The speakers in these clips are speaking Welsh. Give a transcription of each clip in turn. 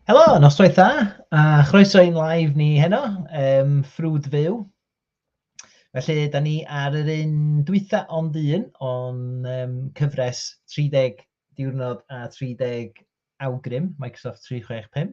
Helo, noswaith dda, a chroeso i'n live ni heno, um, ffrwd fyw. Felly, da ni ar yr un dwytha ond un o'n um, cyfres 30 diwrnod a 30 awgrym Microsoft 365.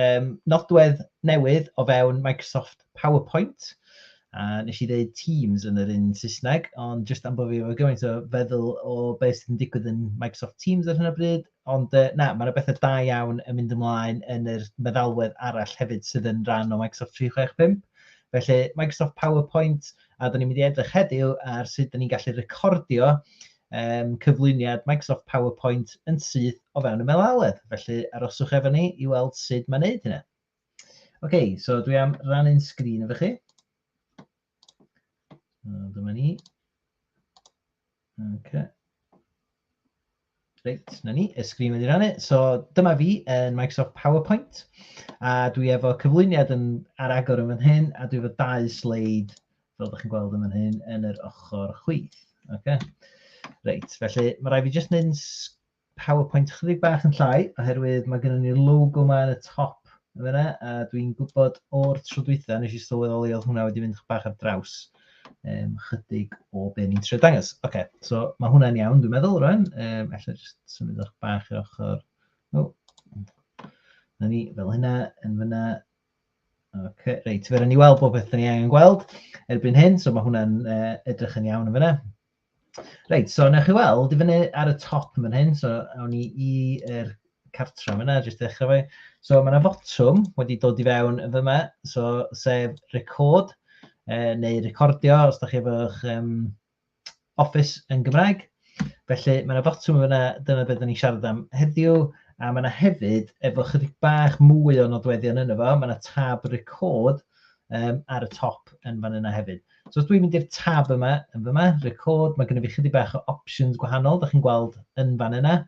um, nodwedd newydd o fewn Microsoft PowerPoint. A nes i ddeud Teams yn yr un Saesneg, ond jyst am bod fi efo gymaint o feddwl o beth sy'n digwydd yn Microsoft Teams ar hyn o bryd, ond uh, na, mae yna bethau da iawn yn mynd ymlaen yn yr meddalwedd arall hefyd sydd yn rhan o Microsoft 365. Felly, Microsoft PowerPoint, a da ni'n mynd i edrych heddiw ar sut da ni'n gallu recordio um, cyflwyniad Microsoft PowerPoint yn syth o fewn y melaledd. Felly aroswch efo ni i weld sut mae'n neud hynna. Oce, okay, so dwi am rannu'n sgrin efo chi. Dyma ni. Okay. Reit, na ni, y sgrin wedi rannu. So dyma fi yn Microsoft PowerPoint a dwi efo cyflwyniad yn, ar agor yn fan hyn a dwi efo dau sleid fel ydych chi'n gweld yn fan hyn, yn yr ochr chwith. Okay. Reit, felly mae rhaid fi jyst yn PowerPoint chydig bach yn llai, oherwydd mae gennym ni'r logo yma yn y top yn fyna, a dwi'n gwybod o'r tro dwytha, nes i sylweddoli oedd hwnna wedi mynd bach ar draws um, chydig o be ni'n trio dangos. Oce, okay, so mae hwnna'n iawn, dwi'n meddwl, rwan. Um, Alla jyst symud o'ch bach i'r ochr. O, oh. na ni, fel hynna, yn fyna, Ocê, reit, fe rhaid ni weld popeth da ni angen gweld erbyn hyn, so mae hwnna'n uh, edrych yn iawn yn fyna. Reit, so newch chi weld, i fyny ar y top yn hyn, so awn ni i'r er cartra yn fyna, jyst ddechrau fe. So mae yna fotwm wedi dod i fewn yn fyma, so sef record, uh, neu recordio, os da chi efo'ch um, Office yn Gymraeg. Felly mae yna botwm yna, dyna beth ni'n siarad am heddiw, a mae yna hefyd, efo chydig bach mwy o nodweddion yna fo, mae yna tab record um, ar y top yn fan yna hefyd. So os dwi'n mynd i'r tab yma, yn fy yma, record, mae gennym fi chydig bach o options gwahanol, da chi'n gweld yn fan yna.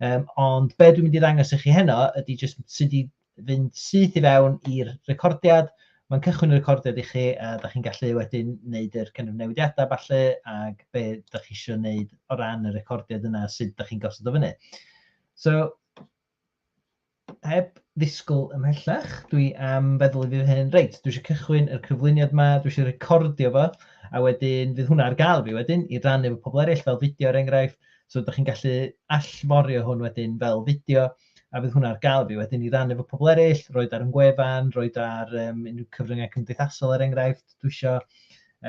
Um, ond be dwi'n mynd i ddangos i chi heno ydy just sut i fynd syth i fewn i'r recordiad, mae'n cychwyn y recordiad i chi a da chi'n gallu wedyn wneud yr kind of newidiadau falle ac be da chi eisiau wneud o ran y recordiad yna sydd da chi'n gosod o fyny. So, heb ddisgwyl ymhellach, dwi am feddwl i fydd hyn, reit, dwi eisiau cychwyn y cyflwyniad yma, dwi eisiau recordio fo, a wedyn fydd hwnna ar gael fi wedyn i rannu efo pobl eraill fel fideo er enghraifft, so ydych chi'n gallu allforio hwn wedyn fel fideo, a fydd hwnna ar gael i fi wedyn i rannu efo pobl eraill, roed ar yn gwefan, roed ar um, unrhyw cyfryngau cymdeithasol er enghraifft, dwi isio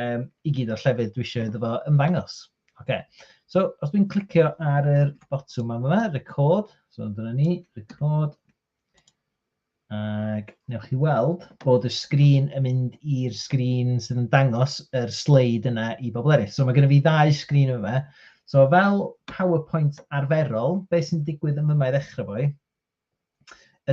um, i gyd o'r llefydd dwi isio iddo fo ymddangos. Okay. So, os dwi'n clicio ar yr botwm yma, record, so dyna ni, record, Ac newch chi weld bod y sgrin yn mynd i'r sgrin sydd yn dangos yr sleid yna i bobl eraill. So mae gennym fi ddau sgrin yma. So fel PowerPoint arferol, beth sy'n digwydd yn yma i ddechrau fwy,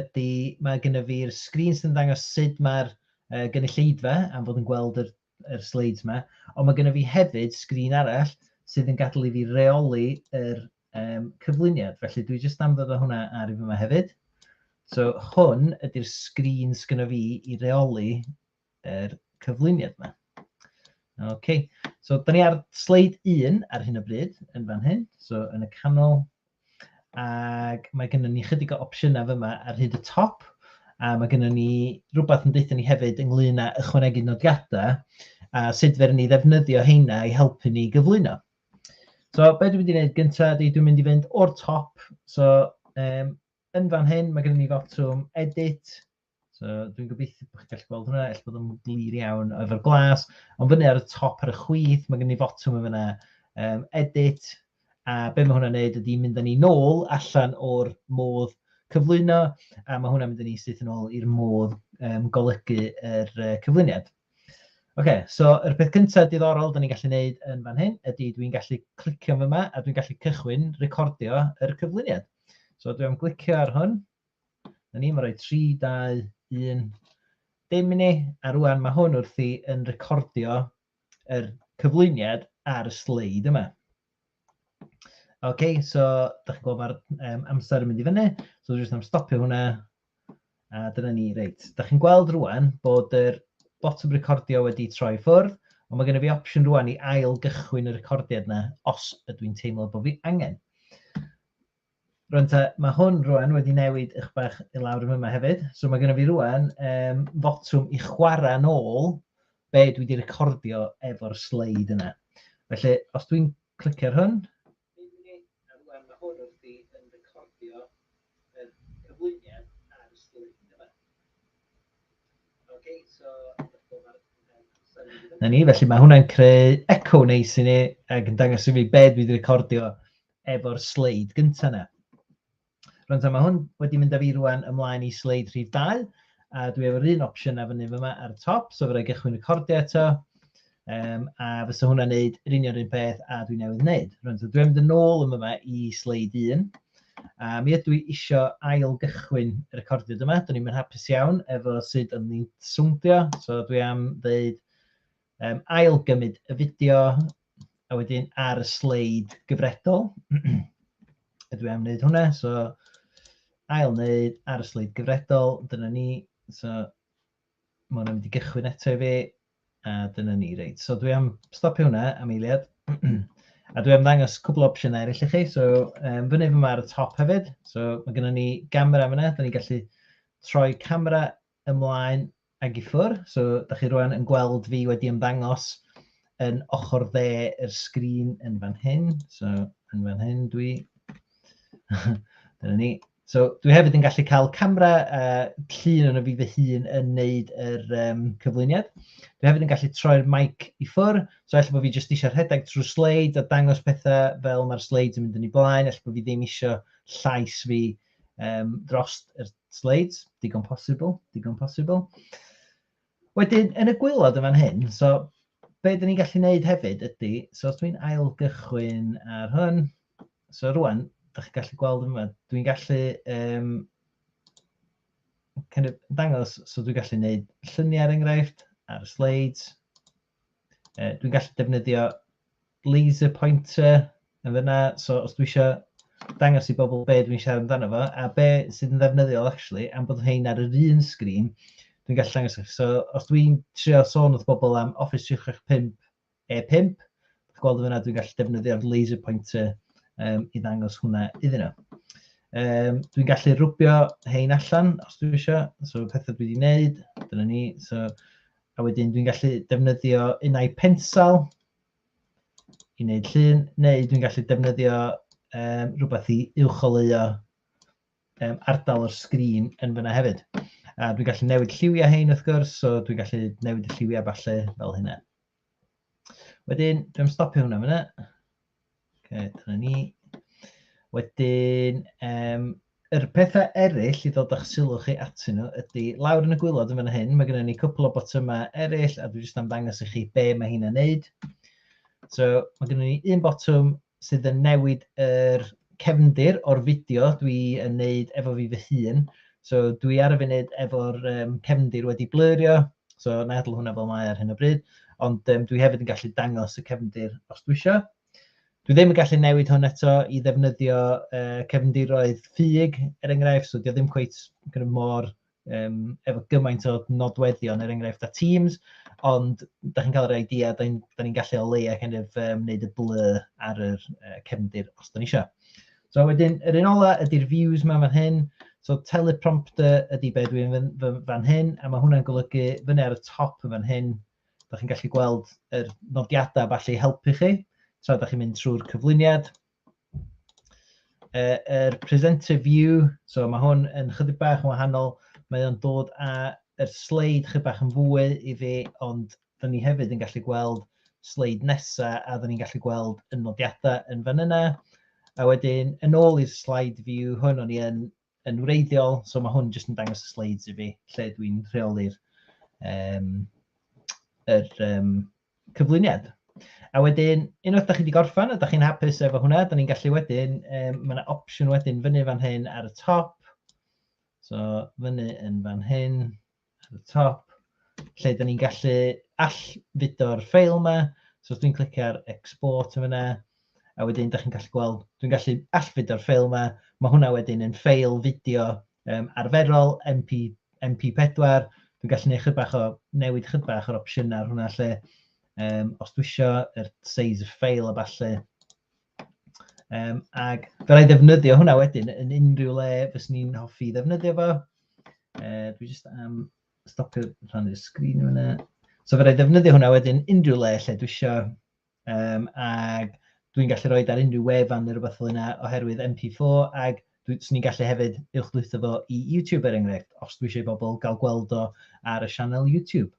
ydy mae gennym fi'r sgrin sy'n dangos sut mae'r uh, gynulleidfa am fod yn gweld yr yr sleids yma, ond mae gennym fi hefyd sgrin arall sydd yn gadael i fi reoli yr um, cyflwyniad. Felly dwi jyst am ddod â hwnna ar i fi yma hefyd. So hwn ydy'r sgrin sgynno fi i reoli yr cyflwyniad yma. OK, so da ni ar sleid 1 ar hyn o bryd yn fan hyn. So yn y canol, Ac mae gennym ni chydig o opsiynau fyma ar hyd y top. A mae gennym ni rhywbeth yn deutha ni hefyd ynglyn â ychwanegu nodiadau a sut fer ni ddefnyddio heina i helpu ni gyflwyno. So, be dwi'n mynd i wneud gyntaf ydy dwi'n mynd i fynd o'r top. So, um, yn fan hyn mae gennym ni fotwm edit, So, dwi'n gobeithio bod chi'n gallu gweld hwnna, eich bod yn glir iawn efo'r glas. Ond fyny ar y top ar y chwith, mae gen i fotwm yn fyna, um, edit, a be mae hwnna'n neud ydy mynd â ni nôl allan o'r modd cyflwyno, a mae hwnna'n mynd â ni syth yn ôl i'r modd um, golygu yr uh, cyflwyniad. Oce, okay, so yr peth cyntaf diddorol da ni'n gallu neud yn fan hyn ydy dwi'n gallu clicio fyma a dwi'n gallu cychwyn recordio yr cyflwyniad. So dwi'n glicio ar hwn, Na ni, mae'n rhoi 3, 2, 1. Dim i ni, a rwan mae hwn wrthi yn recordio yr cyflwyniad ar y sleid yma. OK, so da chi'n gweld mae'r um, amser yn mynd i fyny, so dwi jyst am stopio hwnna. A dyna ni, reit. Da chi'n gweld rwan bod yr botwm recordio wedi troi ffwrdd, ond mae gen i fi opsiwn rwan i ail gychwyn y recordiad yna os ydw i'n teimlo bod fi angen. Rwan ta, mae hwn rwan wedi newid ych bach i lawr yn yma hefyd. So mae gennym fi rwan um, fotwm i chwarae yn ôl be dwi wedi recordio efo'r sleid yna. Felly, os dwi'n clicio ar hwn... Rwan mae hwn wrth i yn recordio yr cyflwyniad ar y sleid yma. Okay, so... Na ni, felly mae hwnna'n creu echo neis i ni ac yn dangos i mi be dwi wedi recordio efo'r sleid gyntaf yna. Rwan ta, mae hwn wedi mynd â fi rwan ymlaen i sleid rhif 2, a dwi efo'r un opsiwn a fyny yma ar y top, so fe rai gychwyn recordio eto, um, a fysa hwnna'n neud yr union un peth a dwi newydd wneud. Rwan ta, dwi'n mynd yn ôl yma i sleid 1, a mi ydw i eisiau ail gychwyn y recordiad yma, dyn ni'n mynd hapus iawn efo sut o'n ni'n swndio, so dwi am ddeud um, ail gymryd y fideo a wedyn ar y sleid gyfredol. Ydw i am wneud hwnna, so ail wneud ar y sleid gyfredol, dyna ni. So mae hwnna'n mynd i gychwyn eto i fi, a dyna ni, reit. So dwi am stopio hwnna am eiliad. a dwi am ddangos cwbl o opsiynau eraill i chi. So um, fyny fy ar y top hefyd. So mae gennym ni gamera fyna, da ni'n gallu troi camera ymlaen ag i ffwr. So, da chi rwan yn gweld fi wedi ymddangos yn ochr dde yr sgrin yn fan hyn. So, yn fan hyn dwi. Dyna ni. So, dwi hefyd yn gallu cael camera uh, llun o'n fi fy hun yn neud yr um, cyflwyniad. Dwi hefyd yn gallu troi'r mic i ffwr. So, efallai bod fi jyst eisiau rhedeg trwy sleid a dangos pethau fel mae'r sleid yn mynd yn ei blaen. Efallai bod fi ddim eisiau llais fi um, dros y sleids, digon posibl, digon posibl. Wedyn, yn y gwylod yn fan hyn, so be dyn ni'n gallu gwneud hefyd ydy, so os dwi'n ail gychwyn ar hwn, so rwan, da chi'n gallu gweld yma, dwi'n gallu um, kind of dangos, so dwi'n gallu gwneud lluniau ar er enghraifft, ar y sleids, Uh, dwi'n gallu defnyddio laser pointer yn fyna, so os dwi eisiau dangos i bobl be dwi'n siarad amdano fo, a be sydd yn ddefnyddiol actually, am bod hyn ar yr un sgrin, dwi'n gallu dangos eich. So os dwi'n trio sôn wrth bobl am Office 365 E5, dwi'n gweld yna dwi'n gallu defnyddio'r laser pointer um, i ddangos hwnna iddyn nhw. Um, dwi'n gallu rwbio hein allan os dwi eisiau, so pethau dwi wedi wneud, dyna ni, so A wedyn dwi'n gallu defnyddio unau pensal i wneud llun, neu dwi'n gallu defnyddio um, rhywbeth i uwcholeuo um, ardal o'r sgrin yn fyna hefyd. A dwi'n gallu newid lliwiau hein wrth gwrs, so dwi'n gallu newid y lliwiau falle fel hynna. Wedyn, dwi'n stopio hwnna fyna. Okay, dyna ni. Wedyn, um, yr pethau eraill i ddod â'ch sylw chi atyn nhw ydy, lawr yn y gwylod yn fan hyn, mae gennym ni cwpl o botymau eraill, a dwi jyst am ddangos i chi be mae hyn yn neud. So, mae gennym ni un botwm sydd yn newid yr cefndir o'r fideo dwi yn wneud efo fi fy hun. So dwi ar y funud efo'r um, cefndir wedi blyrio, so na i hwnna fel mae ar hyn o bryd, ond um, dwi hefyd yn gallu dangos y cefndir os dwi eisiau. Dwi ddim yn gallu newid hwn eto i ddefnyddio uh, cefndiroedd ffug, er enghraifft, so dwi ddim cweith mor um, efo gymaint o nodweddion, er enghraifft, a Teams, ond da chi'n cael yr idea, da ni'n ni gallu o leia kind of, um, wneud y blu ar yr uh, cefndir os da ni eisiau. So wedyn, yr un ola ydy'r views ma fan hyn, so teleprompter ydy be dwi'n fan hyn, a mae hwnna'n golygu fyny ar y top yn fan hyn, da chi'n gallu gweld yr nodiadau falle i helpu chi, tra da chi'n mynd trwy'r cyflwyniad, Uh, er presenter view, so mae hwn yn chydig bach yn wahanol, mae o'n dod â yr sleid chydig bach yn fwy i fi, ond dyn ni hefyd yn gallu gweld sleid nesa a dyn ni'n gallu gweld y nodiadau yn fan yna. A wedyn, yn ôl i'r slide view hwn, o'n i yn yn wreiddiol, so mae hwn jyst yn dangos y sleids i fi, lle dwi'n rheoli'r um, er, um, cyflwyniad. A wedyn, unwaith da chi wedi gorffan, a da chi'n hapus efo hwnna, da ni'n gallu wedyn, um, mae yna opsiwn wedyn fyny fan hyn ar y top. So, fyny yn fan hyn, At y top, lle dan ni'n gallu allfudo'r ffeil yma. So os dwi'n clicio ar export yn fyna, a wedyn da chi'n gallu gweld, dwi'n gallu allfudo'r ffeil yma. Mae hwnna wedyn yn ffeil fideo um, arferol, MP, MP4. Dwi'n gallu gwneud chybach o, newid chybach o'r opsiynau ar hwnna lle. Um, os dwi eisiau yr size y ffeil a falle, Um, ac byddai ddefnyddio hwnna wedyn yn unrhyw le fes ni'n hoffi ddefnyddio fo. Uh, dwi jyst am stopio rhan i'r sgrin yma. So fyddai ddefnyddio hwnna wedyn unrhyw le lle dwi eisiau. Um, ac dwi'n gallu rhoi ar unrhyw wefan neu rhywbeth fel yna oherwydd MP4 ac dwi'n ni'n gallu hefyd uwchdwytho fo i YouTube er enghraifft os dwi eisiau bobl gael gweld o ar y sianel YouTube.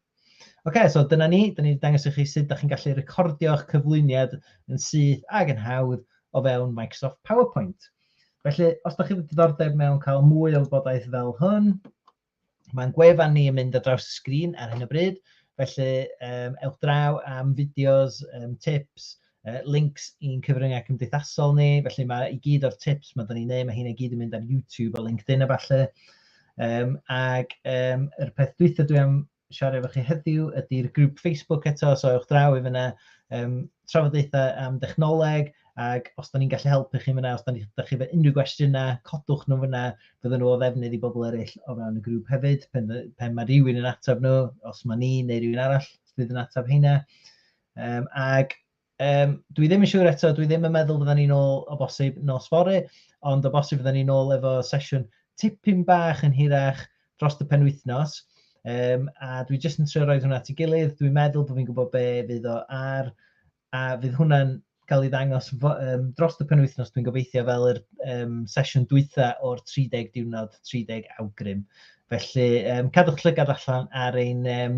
Oce, so dyna ni. Dyna ni wedi dangos i chi sut da chi'n gallu recordio'ch cyflwyniad yn syth ag yn hawdd o fewn Microsoft PowerPoint. Felly, os da chi wedi diddordeb mewn cael mwy o wybodaeth fel hwn, mae'n gwefan ni yn mynd ar draws y sgrin ar hyn o bryd. Felly, um, ewch draw am fideos, um, tips, yy links i'n cyfryngau cymdeithasol ni, felly mae i gyd o'r tips mae 'da ni'n neud, mae hyn i gyd yn mynd ar YouTube a LinkedIn a ballu. Um, ac um, yr peth dwytha dwi am siarad efo chi heddiw ydy'r grŵp Facebook eto, so ewch draw i fyna, um, trafodaethau am dechnoleg, ac os da ni'n gallu helpu chi fyna, os da ni, da chi fe unrhyw gwestiynau, codwch nhw fyna, fydden nhw o ddefnydd i bobl eraill o fewn y grŵp hefyd, pen, pen mae rhywun yn ateb nhw, os mae ni neu rhywun arall fydd yn ateb heina. Um, ac um, dwi ddim yn siŵr eto, dwi ddim yn meddwl fydden ni'n ôl o bosib nos fori, ond o bosib fydden ni'n ôl efo sesiwn tipyn bach yn hirach dros y penwythnos. Um, a dwi jyst yn trio roed hwnna at ei gilydd, dwi'n meddwl bod fi'n gwybod be fydd o ar, a fydd hwnna'n cael ei ddangos um, dros y penwythnos, dwi'n gobeithio, fel yr um, sesiwn dwytha o'r 30 diwrnod, 30 awgrym. Felly, um, cadwch llygad allan ar ein um,